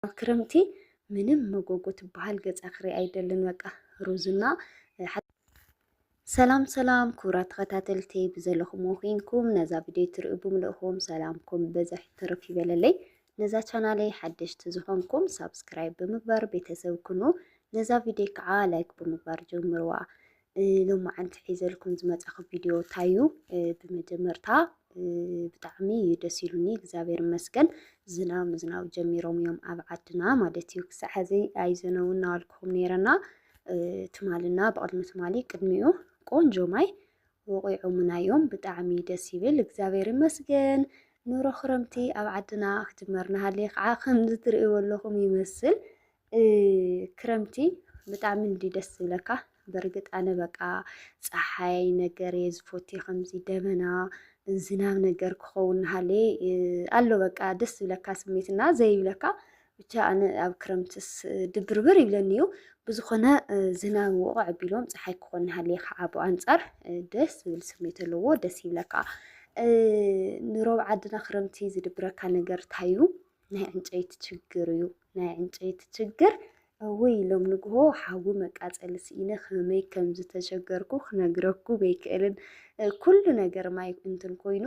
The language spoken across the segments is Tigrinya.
ክረምቲ ምንም መጎጎ ትበሃል ገፃ ክርኢ ኣይደልን በቃ ሩዝና ሰላም ሰላም ክቡራት ተኸታተልቲ ብዘለኹም ኮይንኩም ነዛ ቪድዮ ትሪኡ ብምልእኹም ሰላምኩም በዘሕ ትርፍ ይበለለይ። ነዛ ቻናለይ ሓደሽቲ ዝኾንኩም ሳብስክራይብ ብምግባር ቤተሰብ ኩኑ። ነዛ ቪድዮ ከዓ ላይክ ብምግባር ጀምርዋ። ሎማዓንቲ ሒዘልኩም ዝመፃኹ ቪድዮ እንታይ እዩ? ብመጀመርታ ብጣዕሚ እዩ ደስ ኢሉኒ እግዚኣብሔር ይመስገን። ዝናብ ምዝናብ ጀሚሮም እዮም ኣብ ዓድና ማለት እዩ። ክሳዕ ሕዚ ኣይዘነቡ እናበልኩኹም ነይረና ትማልና ብቕድሚ ትማሊ ቅድሚኡ ቆንጆ ማይ ወቂዖሙና እዮም። ብጣዕሚ ደስ ይብል እግዚኣብሔር ይመስገን። ኑሮ ክረምቲ ኣብ ዓድና ክጅመር ናሃለየ ከዓ ከምዚ ትርእይዎ ኣለኹም ይመስል ክረምቲ ብጣዕሚ እንዲ ደስ ዝብለካ በርግጥ ኣነ በቃ ፀሓይ ነገር እየ ዝፎቲ ከምዚ ደመና ዝናብ ነገር ክኸውን ሃለ ኣሎ በቃ ደስ ዝብለካ ስሜት እና ዘይብለካ ብቻ ኣነ ኣብ ክረምትስ ድብርብር ይብለኒ እዩ ብዝኾነ ዝናብ ውቕ ኣቢሎም ፀሓይ ክኾን ሃለ ከዓ ብኣንፃር ደስ ዝብል ስሜት ኣለዎ ደስ ይብለካ ንሮብ ዓድና ክረምቲ ዝድብረካ ነገር ታዩ ናይ ዕንጨይቲ ችግር እዩ ናይ ዕንጨይቲ ችግር እውይ ሎም ንግሆ ሓዊ መቃፀሊ ስኢነ ከመይ ከም ዝተሸገርኩ ክነግረኩ ዘይክእልን ኩሉ ነገር ማይ እንትን ኮይኑ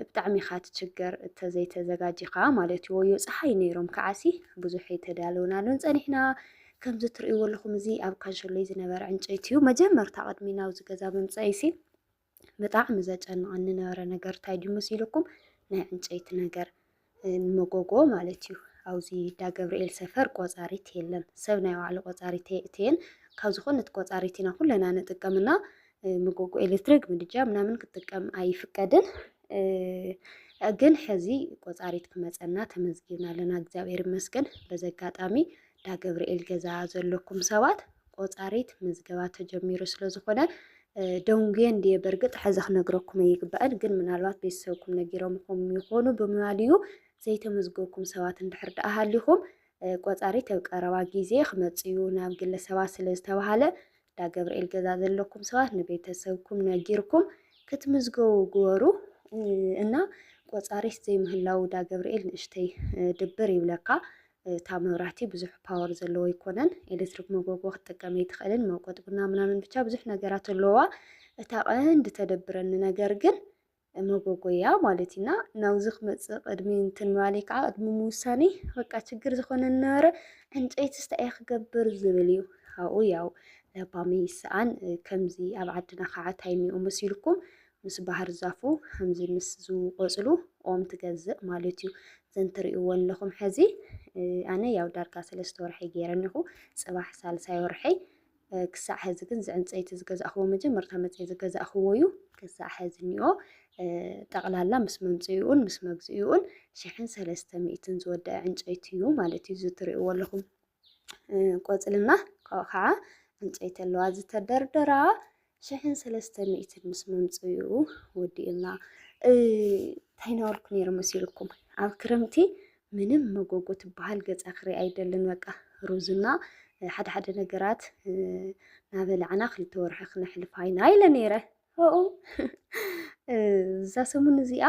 ብጣዕሚ ኢኻ ትችገር እተዘይተዘጋጂኻ ማለት እዩ ወዮ ፀሓይ ነይሮም ከዓሲ ብዙሕ ኣይተዳለውናሉን ፀኒሕና ከምዚ እትርእይዎ ኣለኹም እዚ ኣብ ካንሸሎይ ዝነበረ ዕንጨይቲ እዩ መጀመርታ ቅድሚ ናብዚ ገዛ ምምፀኢሲ ብጣዕሚ ዘጨንቐኒ ነበረ ነገር እንታይ ድዩ መሲልኩም ናይ ዕንጨይቲ ነገር ንመጎጎ ማለት እዩ ኣብዚ እንዳ ገብርኤል ሰፈር ቆፃሪት የለን ሰብ ናይ ባዕሉ ቆፃሪት እየን ካብ ዝኾነት ቆፃሪት ኢና ኩለና ንጥቀምና መጎጎ ኤሌክትሪክ ምድጃ ምናምን ክጥቀም ኣይፍቀድን ግን ሕዚ ቆፃሪት ክመፀና ተመዝጊብና ኣለና እግዚኣብሔር ይመስገን በዚ ኣጋጣሚ እንዳ ገብርኤል ገዛ ዘለኩም ሰባት ቆፃሪት ምዝገባ ተጀሚሩ ስለዝኾነ ደንጉየ እንድየ በርግጥ ሕዚ ክነግረኩም ኣይግባእን፣ ግን ምናልባት ቤተሰብኩም ነጊሮምኹም ይኾኑ ብምባልዩ ዘይተመዝገብኩም ሰባት እንድሕር ደኣ ሃሊኹም ቆፃሪት ኣብ ቀረባ ግዜ ክመፅዩ ናብ ግለ ሰባት ስለዝተባሃለ እንዳ ገብርኤል ገዛ ዘለኩም ሰባት ንቤተሰብኩም ነጊርኩም ክትምዝገቡ ግበሩ እና ቆፃሪት ዘይምህላው እንዳ ገብርኤል ንእሽተይ ድብር ይብለካ። እታ መብራህቲ ብዙሕ ፓወር ዘለዎ ኣይኮነን ኤሌክትሪክ መጎጎ ክትጥቀም ኣይትኽእልን መውቀጥ ቡና ምናምን ብቻ ብዙሕ ነገራት ኣለዋ እታ ቀንዲ ተደብረኒ ነገር ግን መጎጎ እያ ማለት ኢና ናብዚ ክመፅእ ቅድሚ እንትን ምባለይ ከዓ ቅድሚ ምውሳኔ በቃ ችግር ዝኾነ ነበረ ዕንጨይቲ ስታይ ክገብር ዝብል እዩ ኣብኡ ያው ለባሚ ይሰኣን ከምዚ ኣብ ዓድና ከዓ ታይሚኡ መሲልኩም ምስ ባህር ዛፉ ከምዚ ምስ ዝቆፅሉ ኦም ትገዝእ ማለት እዩ ዘን ትሪእዎ ኣለኹም ሕዚ ኣነ ያው ዳርጋ ሰለስተ ወርሒ ገይረ እኒኹ ፅባሕ ሳልሳይ ወርሐይ ክሳዕ ሕዚ ግን ዝዕንፀይቲ ዝገዛእኽዎ መጀመርታ መፅኢ ዝገዛእኽዎ እዩ ክሳዕ ሕዚ እኒኦ ጠቕላላ ምስ መምፅኢኡን ምስ መግዚኡን ሽሕን ሰለስተ ሚእትን ዝወደአ ዕንጨይቲ እዩ ማለት እዩ ዝትሪእዎ ኣለኹም ቆፅልና ካብኡ ከዓ ዕንጨይቲ ኣለዋ ዝተደርደራ ሽሕን ሰለስተ ሚእትን ምስ ምምፅኡ ወዲኡና እንታይ ነበርኩ ነይሩ መሲልኩም ኣብ ክረምቲ ምንም መጎጎ ትበሃል ገፃ ክርኢ ኣይደልን በቃ ሩዝና ሓደ ሓደ ነገራት ናበላዕና ክልተ ወርሒ ክነሕልፋ ኢና ኢለ ነይረ ኡ እዛ ሰሙን እዚኣ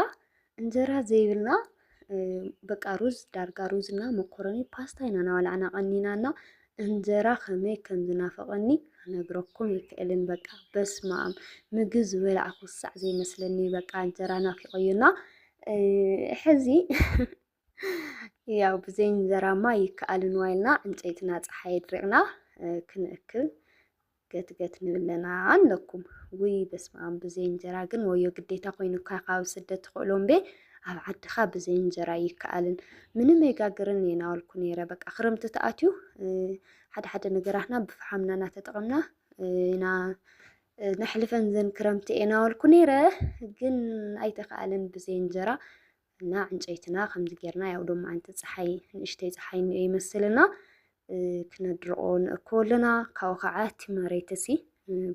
እንጀራ ዘይብልና በቃ ሩዝ ዳርጋ ሩዝ እና መኮረኒ ፓስታ ኢና ናበላዕና ቀኒና እና እንጀራ ከመይ ከም ዝናፈቐኒ ክነግረኩም ይክእልን በቃ በስመ ኣም ምግብ ዝበላዕኩ ሳዕ ዘይመስለኒ በቃ እንጀራ ናፊቐዩና ሕዚ ያው ብዘይ እንጀራማ ይከኣልን ዋይልና ዕንጨይትና ፀሓይ ድሪቕና ክንእክብ ገትገት ንብለና ኣለኩም ውይ በስመኣም ብዘይ እንጀራ ግን ወዮ ግዴታ ኮይኑካ ካብ ስደት ትኽእሎ እምበ ኣብ ዓድኻ ብዘይ እንጀራ ይከኣልን ምንም ኣይጋግርን እየ ናበልኩ ነይረ በቃ ክረምቲ ተኣትዩ ሓደ ሓደ ነገራትና ብፍሓምና እናተጠቐምና ኢና ነሕልፈን ዘን ክረምቲ እየ ናበልኩ ነይረ ግን ኣይተኸኣለን ብዘይ እንጀራ እና ዕንጨይትና ከምዚ ጌርና ያው ዶሞ ኣንቲ ፀሓይ ንእሽተይ ፀሓይ እኒኦ ይመስልና ክነድርቆ ንእክቦ ኣለና ካብኡ ከዓ እቲ መሬት እሲ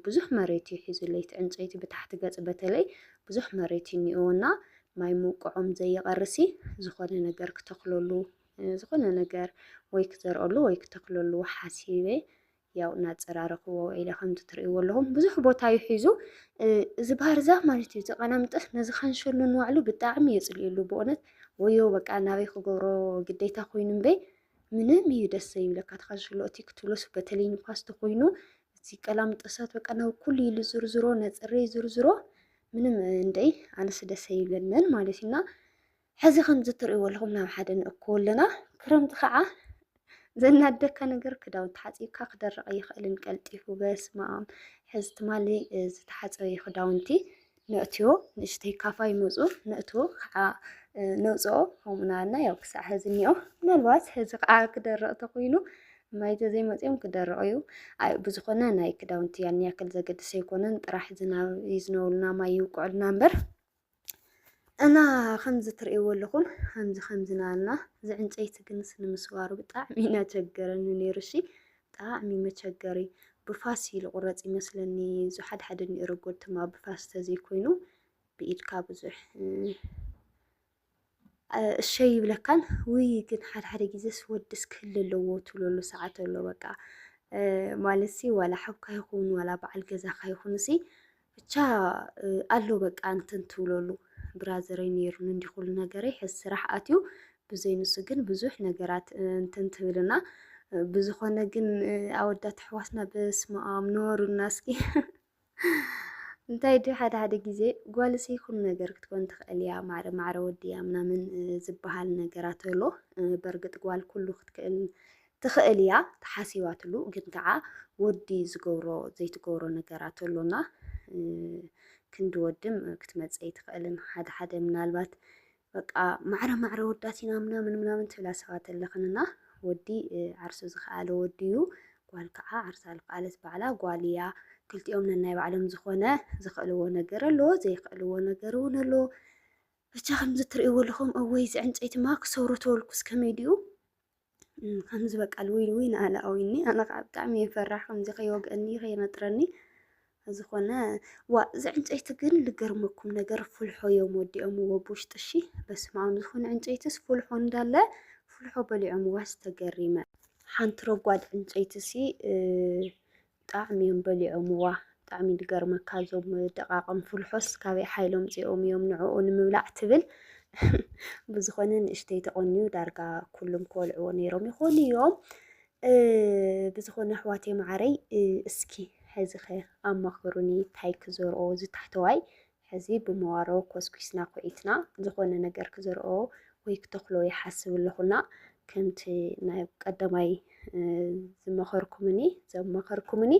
ብዙሕ መሬት እዩ ሒዙለይ እቲ ዕንጨይቲ ብታሕቲ ገፅ በተለይ ብዙሕ መሬት እዩ እኒኦ እና ማይ ምውቅዖም ዘይቀርሲ ዝኾነ ነገር ክተክለሉ ዝኾነ ነገር ወይ ክዘርኦሉ ወይ ክተክለሉ ሓሲበ ያው እናፀራረኽዎ ኢለ ከምቲ ትርእይዎ ኣለኹም ብዙሕ ቦታ እዩ ሒዙ እዚ ባህር ዛፍ ማለት እዩ ተቐናምጠስ ነዚ ካንሸሎ ንባዕሉ ብጣዕሚ የፅልእሉ ብእውነት ወዮ በቃ ናበይ ክገብሮ ግዴታ ኮይኑ እምበይ ምንም እዩ ደስ ዘይብለካ ተካንሸሎ እቲ ክትብሎስ በተለይ ንፋስ ተኮይኑ እዚ ቀላምጠሳት በቃ ናብ ኩሉ ኢሉ ዝርዝሮ ነፅሬ ዝርዝሮ ምንም እንደይ ኣነስ ደስ ይብለንን ማለት እዩና ሕዚ ከምዚ እትርእይዎ ኣለኹም ናብ ሓደ ንእክቦ ኣለና። ክረምቲ ከዓ ዘናደካ ነገር ክዳውንቲ ሓፂብካ ክደርቕ ኣይኽእልን ቀልጢፉ። በስመ ኣም ሕዚ ትማሊ ዝተሓፀበ እዩ ክዳውንቲ ነእትዮ ንእሽተይ ካፋ ይመፁ ነእትዎ ከዓ ነውፅኦ ከምኡ ናበልና ያው ክሳዕ ሕዚ እኒኦ። ምናልባት ሕዚ ከዓ ክደርቕ ተኮይኑ ማይ ተዘይመፅኦም ክደርቕ እዩ። ኣይ ብዝኾነ ናይ ክዳውንቲ ያን ያክል ዘገድስ ኣይኮነን ጥራሕ ዝናብ ይዝነቡልና ማይ ይውቅዑልና እምበር እና ከምዚ ትርእይዎ ኣለኹም ከምዚ ከምዚ ናበልና እዚ ዕንጨይቲ ግንስ ንምስባሩ ብጣዕሚ ኢና ቸገረኒ ነይሩ እሺ ብጣዕሚ መቸገሪ ብፋስ እዩ ዝቑረፅ ይመስለኒ እዚ ሓደ ሓደ እኒኦ ረጎድቲ ብፋስ ተዘይኮይኑ ብኢድካ ብዙሕ እሸይ ይብለካን ውይ ግን ሓደ ሓደ ግዜስ ወድስ ክህሉ ኣለዎ ትብለሉ ሰዓት ኣሎ በቃ ማለት ሲ ዋላ ሓውካ ይኹን ዋላ በዓል ገዛካ ይኹን ሲ ብቻ ኣሎ በቃ እንትን ትብለሉ ብራዘረይ ነይሩን እንዲ ኩሉ ነገረይ ሕዚ ስራሕ ኣትዩ ብዘይ ንሱ ግን ብዙሕ ነገራት እንትን ትብልና ብዝኾነ ግን ኣወዳት ኣሕዋትና በስመ ኣብ ንበሩልና እስኪ እንታይ ድዩ ሓደ ሓደ ግዜ ጓልሲ ይኹን ነገር ክትኮን ትኽእል እያ ማዕረ ማዕረ ወድያ ምናምን ዝበሃል ነገራት ኣሎ። በርግጥ ጓል ኩሉ ክትክእል ትኽእል እያ ተሓሲባትሉ፣ ግን ከዓ ወዲ ዝገብሮ ዘይትገብሮ ነገራት ኣሎና ክንዲ ወድም ክትመፀይ ትኽእልን ሓደ ሓደ ምናልባት በቃ ማዕረ ማዕረ ወዳት ኢና ምናምን ምናምን ትብላ ሰባት ኣለኽንና ወዲ ዓርሱ ዝኸኣለ ወዲ እዩ ጓል ከዓ ዓርሳ ዝኸኣለት ባዕላ ጓል እያ ክልቲኦም ነናይ ባዕሎም ዝኾነ ዝኽእልዎ ነገር ኣሎ ዘይኽእልዎ ነገር እውን ኣሎ ብቻ ከምዚ ትርእይዎ ኣለኹም እወይ ዝዕንፀይትማ ክሰብሮ ተወልኩስ ከመይ ድኡ ከምዚ በቃ ልውይ ልውይ ናኣለ ኣውይኒ ኣነ ከዓ ብጣዕሚ እየ ፈራሕ ከምዚ ከይወግአኒ ከይነጥረኒ ዝኾነ ዋ እዚ ዕንጨይቲ ግን ልገርመኩም ነገር ፍልሖ እዮም ወዲኦምዎ ብውሽጢ እሺ በስመ ኣብ ዝኾነ ዕንጨይትስ ፍልሖ እንዳለ ፍልሖ በሊዖምዋ ዝተገሪመ ሓንቲ ረጓድ ዕንጨይቲ ሲ ብጣዕሚ እዮም በሊዖምዋ ብጣዕሚ ድገርመካ እዞም ደቓቕም ፍልሖስ ካበይ ሓይሎም ምፂኦም እዮም ንዕኡ ንምብላዕ ትብል ብዝኾነ ንእሽተይ ተቖንዩ ዳርጋ ኩሉም ክበልዕዎ ነይሮም ይኾኑ እዮም ብዝኾነ ኣሕዋተይ መዓረይ እስኪ ሕዚኸ ኣማኽሩኒ ታይ ክዘርኦ ዝታሕተዋይ ሕዚ ብመዋሮ ኮስኲስና ኲዒትና ዝኾነ ነገር ክዘርኦ ወይ ክተኽሎ ይሓስብ ኣለኹና። ከምቲ ናይ ቀዳማይ ዝመኸርኩምኒ ዘማኸርኩምኒ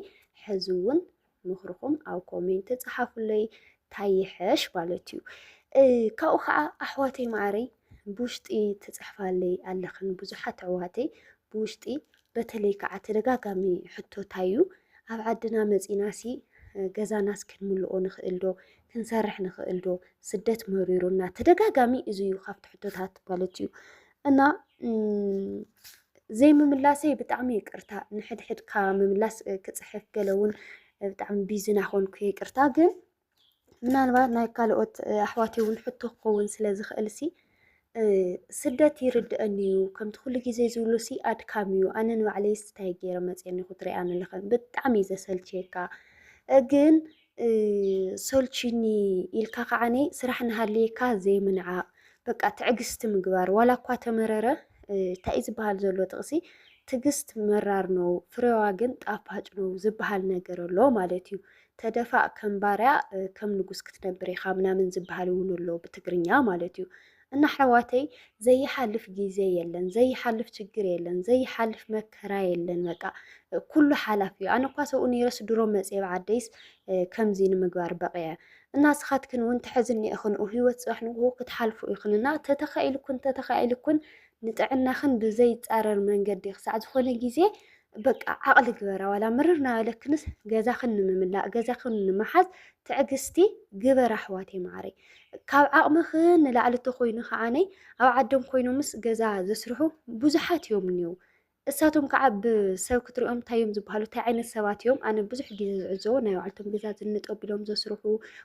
ሕዚ እውን ምኽርኹም ኣብ ኮሜንት ጸሓፉለይ ታይ ይሐሽ ማለት እዩ። ካብኡ ከዓ ኣሕዋተይ ማዕረይ ብውሽጢ ትጽሕፋለይ ኣለኽን ብዙሓት ኣሕዋተይ ብውሽጢ በተለይ ከዓ ተደጋጋሚ ሕቶ ታይ እዩ ኣብ ዓድና መፂና ሲ ገዛናስ ክንምልኦ ንኽእል ዶ ክንሰርሕ ንኽእል ዶ ስደት መሪሩና ተደጋጋሚ እዚ እዩ ካብቲ ሕቶታት ማለት እዩ እና ዘይምምላሰይ ብጣዕሚ ይቅርታ ንሕድሕድካ ምምላስ ክፅሕፍ ገለ እውን ብጣዕሚ ቢዚ ናኾንኩ ይቅርታ ግን ምናልባት ናይ ካልኦት ኣሕዋት እውን ሕቶ ክኸውን ስለ ዝኽእል ሲ ስደት ይርድአኒ እዩ ከምቲ ኩሉ ግዜ ዝብሉ ሲ ኣድካሚ እዩ ኣነ ንባዕለይ ስታይ ገይረ መፅየኒ ክትሪኣኒ ኣለኸ ብጣዕሚ እዩ ዘሰልችየካ ግን ሰልችኒ ኢልካ ከዓኒ ስራሕ ንሃልየካ ዘይምንዓቕ በቃ ትዕግስቲ ምግባር ዋላ እኳ ተመረረ እንታይ ዝበሃል ዘሎ ጥቕሲ ትዕግስት መራር ነው ፍሬዋ ግን ጣፋጭ ነው ዝበሃል ነገር ኣሎ ማለት እዩ። ተደፋእ ከም ባርያ ከም ንጉስ ክትነብር ኢኻ ምናምን ዝበሃል እውን ኣሎ ብትግርኛ ማለት እዩ። እና ኣሕዋተይ ዘይሓልፍ ግዜ የለን፣ ዘይሓልፍ ችግር የለን፣ ዘይሓልፍ መከራ የለን። በቃ ኩሉ ሓላፍ እዩ። ኣነ እኳ ሰብኡ ነይረስ ድሮ መፅየ ብዓደይስ ከምዚ ንምግባር በቂዐ እና ስኻትክን እውን ትሕዝኒ ኢኽን ህይወት ፅባሕ ንግሆ ክትሓልፉ ኢኽን እና ተተኻኢልኩን ተተኻኢልኩን ንጥዕናኽን ብዘይፃረር መንገዲ ክሳዕ ዝኾነ ግዜ በቃ ዓቕሊ ግበራ ዋላ ምርር ናበለክንስ ገዛኽን ንምምላእ ገዛኽን ንምሓዝ ትዕግስቲ ግበራ ኣሕዋተይ ማዕረይ ካብ ዓቕምኽን ንላዕሊ እንተኮይኑ ከዓነይ ኣብ ዓዶም ኮይኖምስ ገዛ ዘስርሑ ብዙሓት እዮም እኒው እሳቶም ከዓ ብሰብ ክትሪኦም እንታይ እዮም ዝበሃሉ እንታይ ዓይነት ሰባት እዮም ኣነ ብዙሕ ግዜ ዝዕዘቦ ናይ ባዕልቶም ገዛ ዝንጠብ ኢሎም ዘስርሑ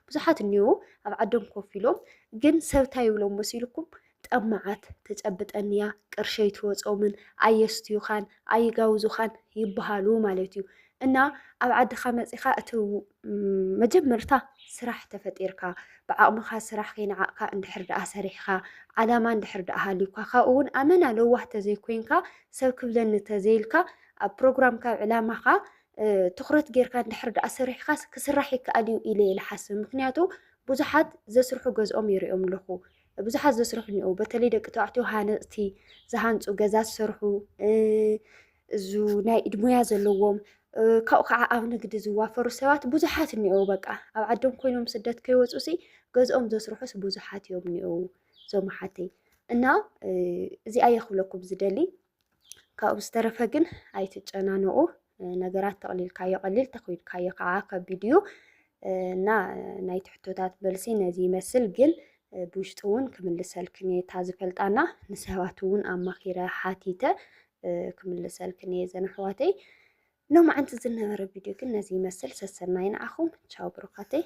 ብዙሓት እኒው ኣብ ዓዶም ኮፍ ኢሎም ግን ሰብ እንታይ ይብሎም መሲልኩም ጠማዓት ተጨብጠንያ ቅርሺ ኣይትወፆምን ኣየስትዩኻን ኣይጋውዙኻን ይበሃሉ ማለት እዩ እና ኣብ ዓድኻ መፂኻ እቲ መጀመርታ ስራሕ ተፈጢርካ ብዓቕምኻ ስራሕ ከይንዓቕካ እንድሕር ደኣ ሰሪሕኻ ዓላማ እንድሕር ደኣ ሃልዩካ ካብኡ እውን ኣመና ለዋህ ተዘይኮይንካ ሰብ ክብለኒ ተዘይልካ ኣብ ፕሮግራምካ ኣብ ዕላማኻ ትኩረት ጌርካ እንድሕር ደኣ ሰሪሕካ ክስራሕ ይከኣል እዩ ኢለ ይልሓስብ ምክንያቱ ብዙሓት ዘስርሑ ገዝኦም ይሪኦም ኣለኹ ብዙሓት ዘስርሑ እኒኦ በተለይ ደቂ ተባዕትዮ ሃነፅቲ ዝሃንፁ ገዛ ዝሰርሑ እዙ ናይ ኢድ ሙያ ዘለዎም ካብኡ ከዓ ኣብ ንግዲ ዝዋፈሩ ሰባት ብዙሓት እኒኦ በቃ ኣብ ዓዶም ኮይኖም ስደት ከይወፁ ሲ ገዝኦም ዘስርሑስ ብዙሓት እዮም እኒኦ ዞም ሓተይ እና እዚኣ የኽብለኩም ዝደሊ ካብኡ ዝተረፈ ግን ኣይትጨናንቑ። ነገራት ተቕሊልካዮ ቀሊል ተኺድካዮ ከዓ ከቢድ እዩ እና ናይቲ ሕቶታት መልሲ ነዚ ይመስል ግን ብውሽጢ እውን ክምልሰልክን እየ እታ ዝፈልጣና ንሰባት እውን ኣማኺረ ሓቲተ ክምልሰልክን እየ ዘን ኣሕዋተይ ሎማዓንቲ ዝነበረ ቪድዮ ግን ነዚ ይመስል ሰሰናይ ንዓኹም ቻው ብሩኻተይ